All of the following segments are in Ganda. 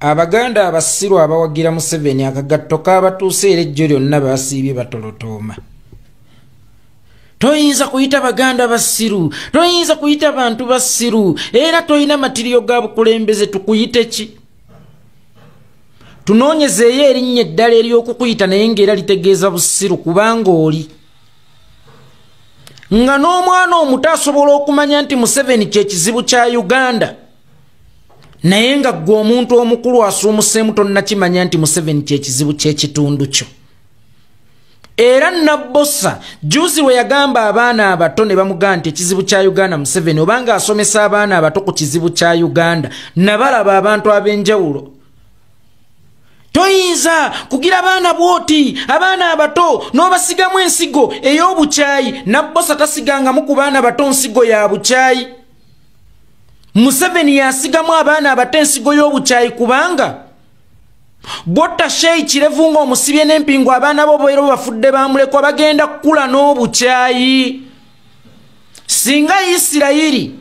abaganda abasiru abawagira museveni akagatto kabatuuse era ejjo lyonna basiibye batolotooma toyinza kuyita baganda basiru toyinza kuyita bantu basiru era tolina matiriyo ga bukulembeze tukuyite ki tunoonyezeeyo erinnya eddala ery'okukuyita naye ngaera litegeeza busiru kubanga oli nga n'omwana omuto asobola okumanya nti museveni kyekizibu kya uganda naye nga gwe omuntu omukulu asuumuseemu tonnakimanya nti museveni kyekizibu kyekitundu kyo era nabbosa juzi we yagamba abaana abato ne bamugamba nti ekizibu kya uganda museveni obanga asomesa abaana abato ku kizibu kya uganda nabalaba abantu ab'enjawulo toyinza kugira abaana bwoti abaana abato n'obasigamu ensigo ey'obukyayi nabbosa tasigangamu ku baana bato nsigo ya bukyayi museveni yasigamu abaana abato ensigo y'obukyayi kubanga botta sheyi kirevu nga omusibye n'empingu abaana bo boera bafudde bamulekwa bagenda kukula n'obukyayi singa isirayiri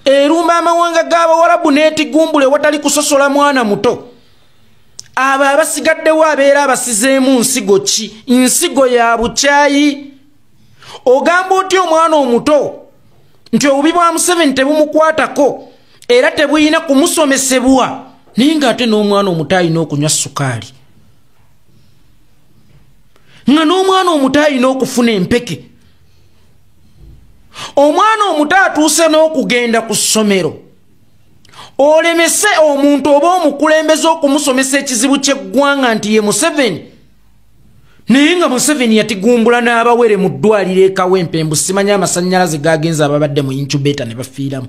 erumba amawanga g'abawarabu n'etigumbule watali kusosola mwana muto abo abasigaddewo abeera abasizeemu nsigo ki nsigo ya bukyayi ogamba otya omwana omuto nti obubi bwa museveni tebumukwatako era tebulina kumusomesebwa naye nga ate n'omwana omuto alina okunywa sukaali nga n'omwana omuto alina okufuna empeke omwana omuto atuuse n'okugenda ku ssomero olemese omuntu oba omukulembeze okumusomesa ekizibu ky'eggwanga nti ye museveni naye nga museveni yatigumbula n'abawere mu ddwaliro ekawempe mbu simanya amasanyalaze gagenza ababadde mu incubator ne bafiiramu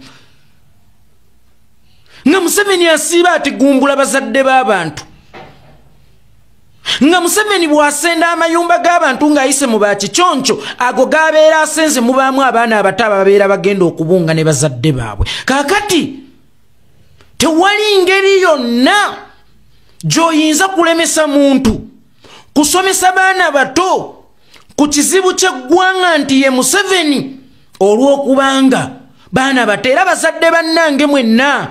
nga museveni asiiba atigumbula bazadde b'abantu nga museveni bw'asenda amayumba g'abantu ng'ayise mu bakiconco ago g'abeera asenze mubaamu abaana abato ababeera bagenda okubunga ne bazadde baabwe kaakati tewali ngeri yonna gyoyinza kulemesa muntu kusomesa baana bato ku kizibu kyeggwanga nti ye museveni olw'okubanga baana bato era bazadde bannange mwenna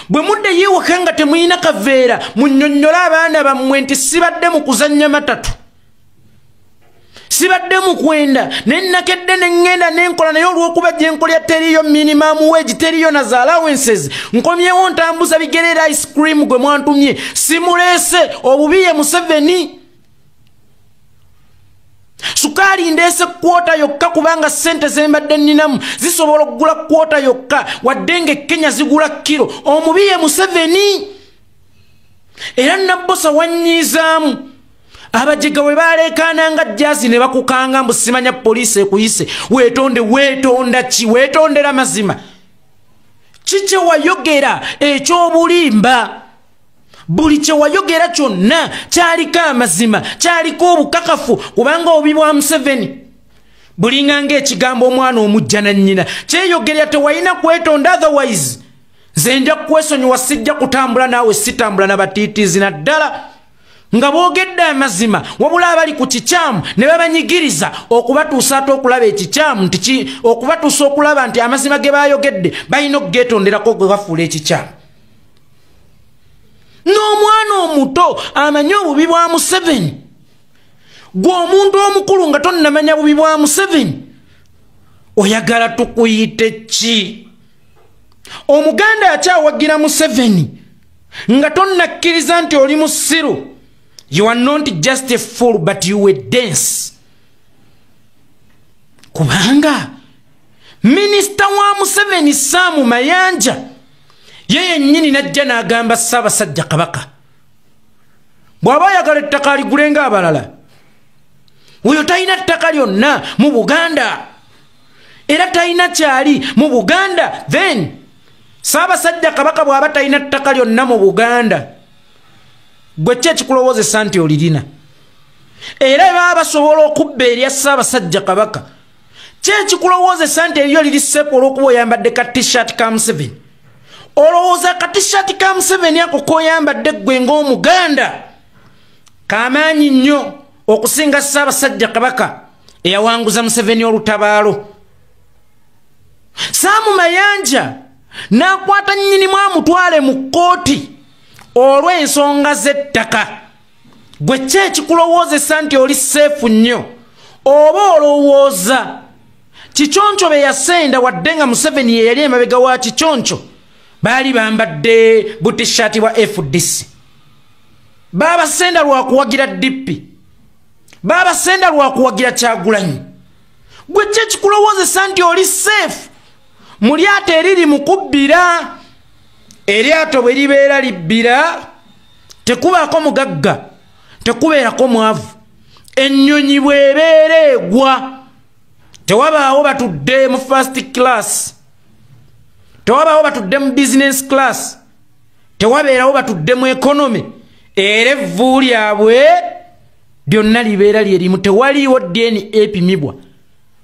bwe mudde yiwaka nga temulina kaveera munyonnyole abaana bammwe nti sibadde mu kuzannya matatu sibadde mukwenda nenakedde neŋŋenda nenkola naye olwokuba gyenkolya teriyo minimum wage teriyo na za allowances nkomyewo ntambuza bigerera ice cream gwe mwantumye simuleese obubiye museveni sukaali ndeese kwota yokka kubanga ssente zembadde nninamu zisobola okugula kwota yokka wadde nga ekkenya zigula kiro omubiye museveni era nabbosa wannyiizaamu abajega we baleekaana nga jazi ne bakukanga mbu simanya poliisi ekuyise weetonde weetonda ki weetondera mazima kikye wayogera ekyobulimba buli kye wayogera kyonna kyaliko amazima kyaliko obukakafu kubanga obi bwa museveni bulinga ngaekigambo omwana omujja nannyina kyeyogerera tewalina kwetonda otherwise nze nja kukwesonyiwa sijja kutambula naawe sitambula nabatiitizi naddala nga boogedde amazima wabula abali ku kikyamu ne babanyigiriza okubatuusa ate okulaba ekikyamu nti okubatuusa okulaba nti amazima ge baayogedde balina okugeetonderako gwe bafuula ekikyamu n'omwana omuto amanyi obubi bwa museveni gwe omuntu omukulu nga tonnamanya bubi bwa museveni oyagala tukuyite ki omuganda akyawagira museveni nga tonnakkiriza nti oli musiru you are not just a fool but you were dense kubanga minisita wa museveni saamu mayanja ye yennyini najja n'agamba ssaabasajja kabaka bw'aba ayagala ettaka aligule nga abalala oyo talina ttaka lyonna mu buganda era talina kyali mu buganda then saabasajja kabaka bw'aba talina ttaka lyonna mu buganda gwe ki ekikulowoozesa nti olirina era baba basobola okubba erya saabasajja kabaka ki ekikulowoozesa nti eriyo liri seepu olw'okuba oyambadde ka tishat ka museveni olowooza ka tishat ka museveni ako koyambadde ggwe ng'omuganda kamaanyi nnyo okusinga saabasajja kabaka eyawanguza museveni olutabaalo saamu mayanja n'akwata nnyinimu amutwale mu kkooti olw'ensonga z'ettaka gwe ki ekikulowoozesa nti oli seefu nnyo oba olowooza kiconco be yasenda wadde nga museveni ye yali emabega wa kiconco baali bambadde butishati bwa fdc baabasenda lwakuwagira dippi baabasenda lwakuwagira kyagulanyi gwe ki ekikulowoozesa nti oli seefu mu lyato eriri mu kubbira eryato bwe libeera libbira tekubaako mugagga tekubeerako mwavu ennyonyi bwebeera egwa tewabaawo batudde mu first class tewabaawo batudde mu business class tewabeerawo batudde mu economy era evvu lyabwe lyonna libeera lye limu tewaliiwo deni epimibwa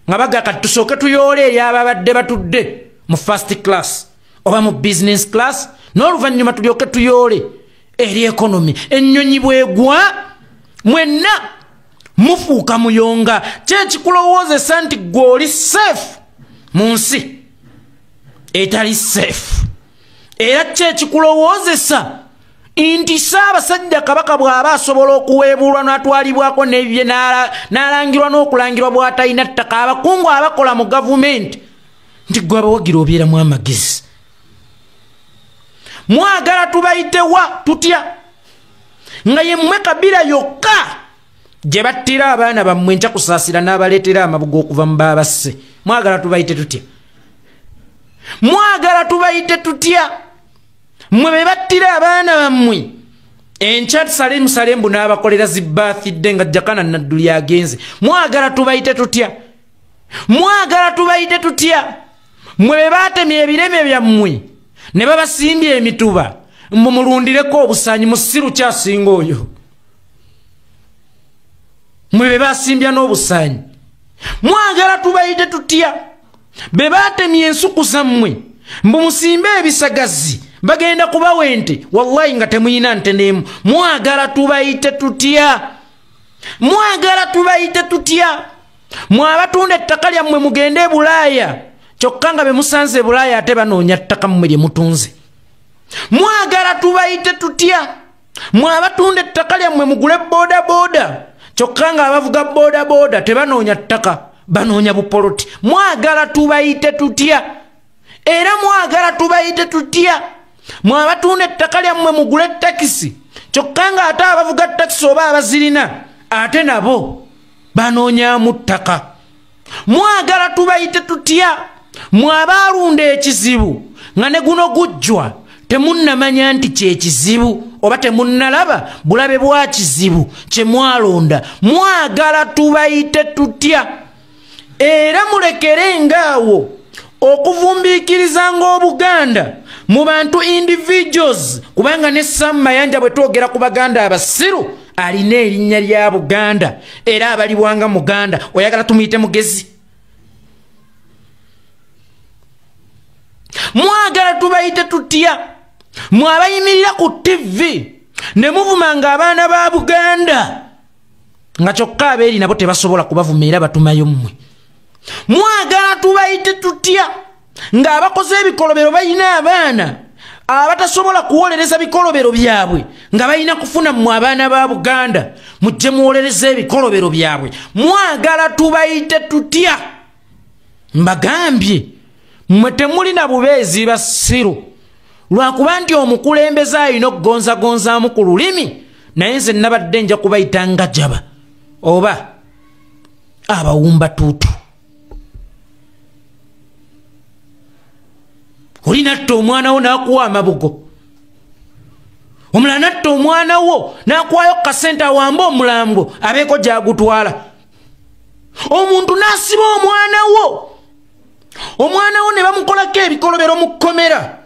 nga baga kati tusooke tuyoole eri ababadde batudde mu first class oba mu business class n'oluvannyuma tulyoke tuyoole eri ekonomi ennyonyi bwegwa mwenna mufuuka muyonga kyekikulowoozesa nti gwe oli safe mu nsi etali safe era kyo ekikulowoozesa nti saabasajja kabaka bw'aba asobola okuweebuulwa n'atwalibwako nebye n'alangirwa n'okulangirwa bw'atalina ttaka abakungu abakola mu gavumenti nti gwe abawagira obeeramu amagezi mwagala tubayitewa tutya nga ye mmwe kabira yokka gye battira abaana bammwe nja kusaasira n'abaleetera amabuga okuva mu baabasse mwagala tubayite tutya mwagala tubayite tutya mmwe be battira abaana bammwe enkya tusale musale mbu n'abakolera zibaathidde nga jakana nadduli agenze mwagala tubayite tutya mwagala tubayite tutya mmwe be baatemye ebireme byammwe ne babasimbye emituba mumulundireko obusanyi musiru kyasinga oyo mwe be basimbya n'obusaanyi mwagala tubayite tutya be baatemye ensuku zammwe mbu musimbe ebisagazi bagenda kubawa ente wallahi nga temuyina nte neemu mwagala tubayite tutya mwagala tubayite tutya mwabatunda ettaka lyammwe mugende e bulaaya kyokka nga be musanze e bulaaya ate banoonya ttaka mmwe lye mutunze mwagala tubayite tutya mwe abatunda ettaka lyammwe mugule bodaboda kyokka nga abavuga bodaboda tebanoonya ttaka banoonya bupoloti mwagala tubayite tutya era mwagala tubayite tutya mwe abatunda ettaka lyammwe mugule takisi kyokka nga ate abavuga takisi oba abazirina ate nabo banoonyamu ttaka mwagala tubayite tutya mwabaalunda ekizibu nga ne guno gujjwa temunnamanya nti kyekizibu oba temunnalaba bulabe bwa kizibu kye mwalonda mwagala tubayite tutya era mulekere ngaawo okuvumbiikiriza ng'obuganda mu bantu individuals kubanga ne sam mayanja bwe twogera ku baganda abasiru alina erinnya lya buganda era abalibwanga muganda oyagala tumuyite mugezi mwagala tubayite tutya mwabayimirira ku tivi ne muvuma nga abaana ba buganda nga kyokka abeeri nabo tebasobola kubavuma era batumayo mmwe mwagala tubayite tutya ng'abakoze ebikolobero balina abaana abatasobola kuwolereza bikolobero byabwe nga balina kufuna mu abaana ba buganda mujje muwolereza ebikolobero byabwe mwagala tubayite tutya mbagambye mwe temulina bubeezi basiru lwakuba nti omukulembeze alina okugonzagonzaamu ku lulimi naye nze nabadde nja kubayita nga jaba oba abawumba tuutu oli natta omwana wo nakuwa amabugo omulala natta omwana wo nakuwayo kukasente awambe omulambo abeeko gyagutwala omuntu nasiba omwana wo omwana wo ne bamukolako ebikolobero mu kkomera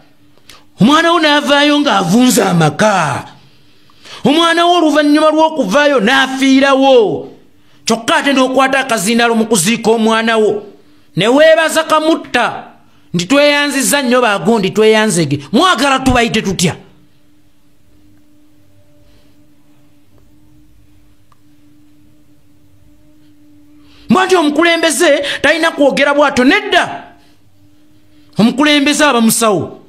omwana wo naavaayo ng'avunza amaka omwana wo oluvannyuma lw'okuvaayo n'afiirawo kyokka ate n'okwata akazindaalo mu kuziika omwana wo ne weebaza kamutta nti tweyanziza nnyo bagundi tweyanzege mwagala tubayite tutya mwanti omukulembeze talina kwogera bwato nedda omukulembeze aba musawo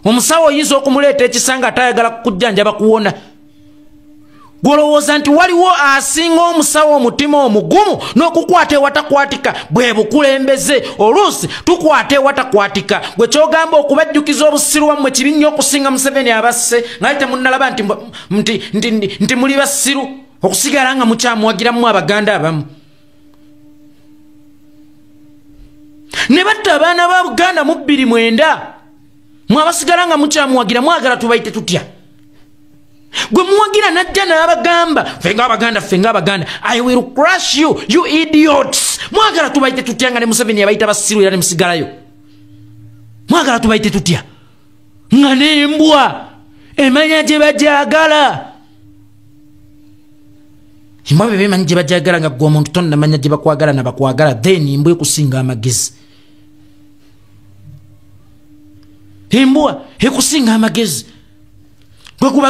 omusawo oyinza okumuleeta ekisa nga atayagala kukujjanjaba kuwona gwolowooza nti waliwo asinga omusawo omutima omugumu n'okukwata ewatakwatika bwe bukulembeze oluusi tukwata ewatakwatika gwe kyogamba okubajjukiza obusiru wammwe kibi nnyo okusinga museveni abasse ngali temunnalaba nti muli basiru okusigala nga mukyamuwagiramu abaganda abamu ne batta abaana ba buganda mu bbiri mwenda mwabasigala nga mukyamuwagira mwagala tubayite tutya gwe muwagira najja n'abagamba ffe nga abaganda ffe nga abaganda i will crush you you idiots mwagala tubayite tutya nga ne museveni yabayita basiru era ne musigalayo mwagala tubayite tutya nga nembwa emanya gye bajagala embwa bebe emanyi gye bajagala nga gwe omuntu tonnamanya gye bakwagala nabakwagala then embwa ekusinga amagezi embwa ekusinga amagezi gwekubaga